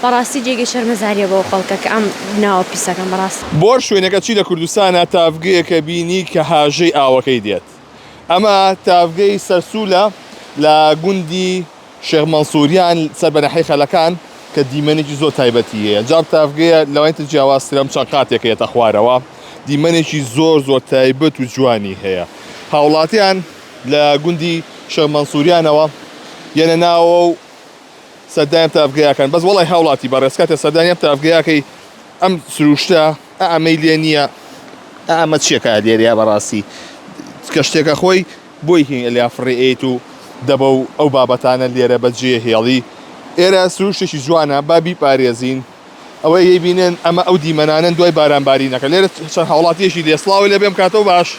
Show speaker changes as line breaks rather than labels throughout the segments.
بەڕاستی جێگەی شەرمەزاریە بۆ ئەو خەڵکە کە ئەم ناوە پیسەکەن بەڕاست. بۆ شوێنەکە چی لە
کوردستانا تاڤگەیەکە بینی کە هاژەی ئاوەکەی دێت ئەمە تاڤگەی سەرسولە لە گوندی شێخ مەنسوریان سەر بە ناحیەی خەلەکان کە دیمەنێکی زۆر تایبەتی هەیە جام تاڤگەیە لەوانی تر جیاواز ترە چەند قاتێک هەیە تەخوارەوە دیمەنێکی زۆر زۆر تایبەت و جوانی هەیە هاوڵاتیان لە گوندی شێخ مەنسوریانەوە یەنە ناوەو سەردانیان تاڤگەیاکان بەس وەڵای هاوڵاتی بەڕێز کاتێ سەردانیان تاڤگەیاکەی ئەم سروشتە ئە ئەمەی لێ نیە ئە ئەمە چیە کە لێرەیا بەڕاستی کە شتێکە خۆی بۆی هین ئەلیا فڕێ ئەیت و دەبە و ئەو بابەتانە لێرە بە جێ هێڵی ئێرە سروشتێکی جوانە با بیپارێزین. ئەوەی ی بینێن ئەمە ئەو دیمەنانن دوای باران بارینەکە لێرە چەند هاوڵاتیەکی لێ سلااو لێ بێم کاتەوە باش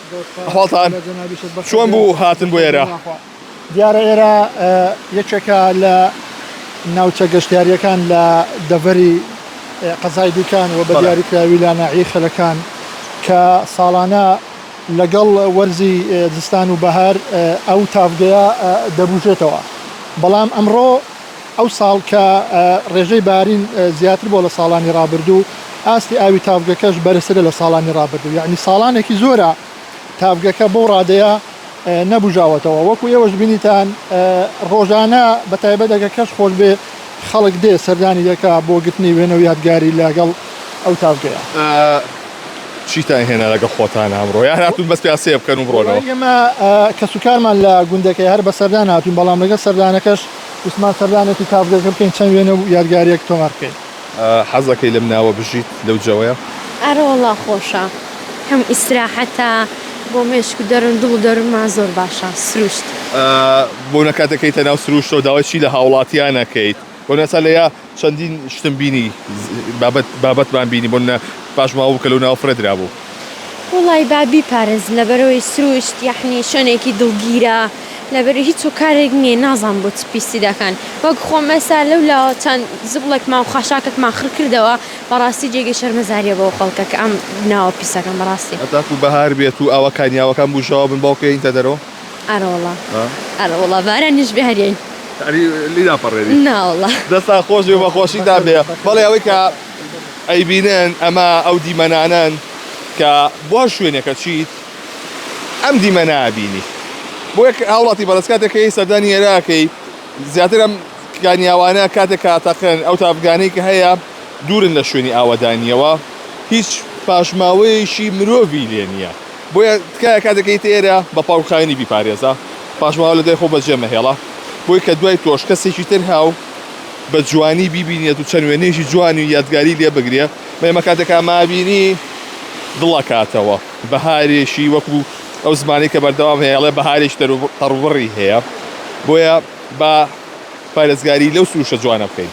خاڵتان چۆن بوو هاتن بۆ ئێرە دیارە
ئێرە یەکێکە لە ناوچە گەشتیاریەکان لە دەڤەری قەزای دوکان و بە دیاریکراوی لا ناعی خەلەکان کە ساڵانە لەگەڵ وەرزی زستان و بەهار ئەو تافگەیە دەبژێتەوە بەڵام ئەمڕۆ ئەوساڵ کە ڕێژەی بارین زیاتر بووە لە ساڵانی ڕابردوو، ئاستی ئاوی تاڤگەکەش بەرزترە لە ساڵانی ڕابردوو، یەعنی ساڵانێکی زۆرە تاڤگەکە بەو ڕادەیە نەبووژاوەتەوە، وەکو ئێوەش بینیتان ڕۆژانە بە تایبەت ئەگەر کەش خۆش بێ خەڵک دێ سەردانی دەکا بۆ گرتنی وێنە و یادگاری لەگەڵ ئەو تاڤگەیە.
چیتان هێنا لەگەڵ خۆتان ئەمڕۆ؟ یان هاتوون بەس پێ سەیر بکەن و بڕۆنەوە؟ وەڵای ئێمە
کەسوکارمان لە گوندەکەیە هەر بە سەردان هاتووین، بەڵام لەگەڵ سەردانەکەش وتمان سەردانێکی کارگەکە بکەین چەند وێنە و یادگارییەک تۆمار بکەین. حەز ئەکەی لەم
ناوە بژیت لەو جەوەیە؟ ئەرە وەڵا
خۆشە کەم ئیستراحەتە بۆ مێشک و دەرون دڵ و دەرونمان زۆر باشە سروشت. بۆ
نەکات دەکەیتە ناو سروشتەوە داوای چی لە هاوڵاتیان ئەکەیت بۆ نەسەلەیە؟ چەندین شتم بینی بابەت بابەتمان بینی بۆ نە پاشماوە بوو کە لەو ناوە فرە درابوو. وەڵای با
بیپارێزن لەبەرەوەی سروشت یەحنی شوێنێکی دڵگیرە لەبەرەی هیچ هۆکارێک نیە نازانم بۆ چ پیسی دەکەن وەک خۆم ئێستا لەو لاوە چەند زبڵێکمان و خاشاکێکمان خڕ کردەوە بەڕاستی جێگەی شەرمەزاریە بۆ ئەو خەڵکە کە ئەم ناوە پیسەکەن بەڕاستی. هەتاکوو بەهار بێت
و ئاوا کانیاوەکان بوژاوە بن باوکە یەینتە دەرەوە. ئەرەوەڵا
ها ئەرەوەڵا بارانیش بێ هەر یەین یعنی لی
ناپەڕێنی ناوەڵا دەستا
خۆش بێ
بەخۆشی دا بێ بەڵێ ئەوەی کە ئەیبینن ئەمە ئەو دیمەنانەن کە بۆ هەر شوێنێکە چیت ئەم دیمەنا بینی بۆ یەک هاوڵاتی بەڕێز کاتێک کە هی سەردانی ئێراکەی زیاتر ئەم کانیاوانە کاتێک کە تەقن ئەو تاڤگانەی کە هەیە دوورن لە شوێنی ئاوەدانیەوە هیچ پاشماوەیەکی مرۆڤی لێ نییە بۆیە تکایە کاتێک گەیتە ئێرە بە پاکوخاوێنی بیپارێزە، پاش ماوە لە دوای خۆ بەجێ مەهێڵە، بۆی کە دوای تۆش کەسێکی تر هاو بە جوانی بیبینێت و چەند وێنەیەکی جوان و یادگاری لێ بگرێ، بەمە کاتێک مابینی دڵەکاتەوە، بەهارێکی وەکو ئەو زمانەی کە بەردەوام هەیە ئەڵێ بەهارێکی تەر و تەڕبڕی هەیە، بۆیە با پارێزگاری لەو سروشتە جوانە بکەین.